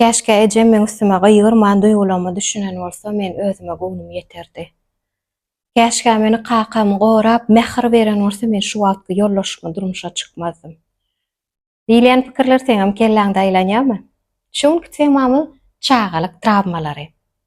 Käşgä ejem meň üstüme gygyrman duýgularyma düşünen bolsa men özüme göwnüm ýeterdi. Käşgä meni kakam gorap mähir beren bolsa men şu wagtky ýoldaşyma durmuşa çykmazdym. Diýilýän pikirler seňem kelläňde aýlanýamy? Şu günki temamyz çagalyk trawmalary.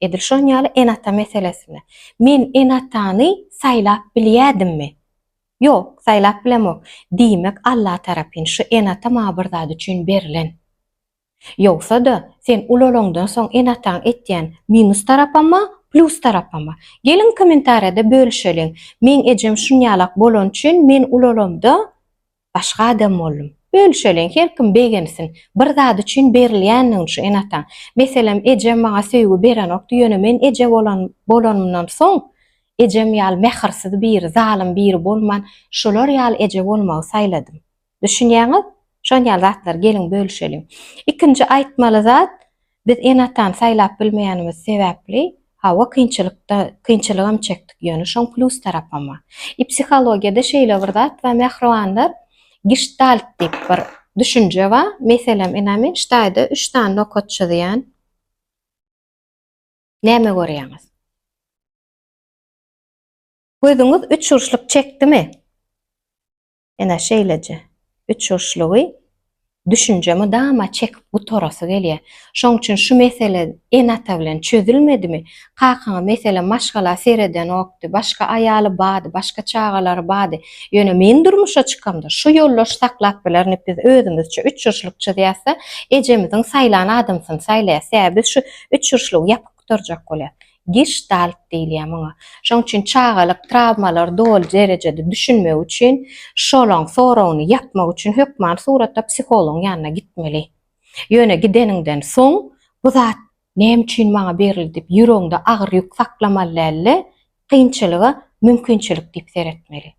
Edil şon ýaly ene-ata meselesinde. Men ene-atany saýlap bilýädimmi? Ýok, saýlap bilemok. Diýmek, Alla tarapyn şu ene-ata maňa bir zat üçin berlen. Ýogsa-da, sen ulalaňdan soň ene-ataň etýän minus tarapama, plýus tarapama? Geliň kommentariýada bölüşeliň. Meň ejem şunýalak bolany üçin men ulalamda Başga adam boldum. Bölüşeliň, her kim begensin. Bir zat üçin berilýändigini şu ene-ataň. Meselem, ejem maňa söýgi berenokdy, ýöne men eje bolan bolanymdan soň, ejem ýaly mähirsiz biri, zalym biri bolman, şular ýaly eje bolmagy saýladym. Düşünýäňiz? Şon ýaly zatlary geliň bölüşeliň. Ikinji aýtmaly zat, Biz ene-atany saýlap bilmeýänimiz sebäpli, hawa, kynçylykda, kynçylygam çekdik, ýöne şoň plus tarapama. I psihologiýada şeýle bir zat bar, mähribanlar, giştalt diýip bir düşünje bar. Meselem, ine, men ştaýda üç sany nokat çyzýan. Näme görýäňiz? Gözüňiz üçburçluk çekdimi? Ene şeýleje uçuşlygy düşünje mydama çekip gutarasy gelýär. Şoň üçin şu mesele ene-ata bilen çözülmedimi? Kakaňa meselem maşgala seredenokdy, başga aýaly bardy, başga çagalary bardy. Ýöne men durmuşa çykamda şu ýoldaş saklap bilernik biz özümizçe uçuşlyk çyzýasda ejemiziň saýlan adamsyny saýlaýas. Sebäbi biz şu uçuşlygy ýapyk gutarjak bolýas. Giştalt diýilýär muňa. Şoň üçin çagalyk trawmalary doly derejede düşünmek üçin, şolaň soragyny ýapmak üçin hökman suratda psihologyň ýanyna gitmeli. Ýöne gideniňden soň bu zat näme üçin maňa berildi diýip ýüregiňde agyr ýük saklamaly dälde, kynçylyga mümkinçilik diýip seretmeli.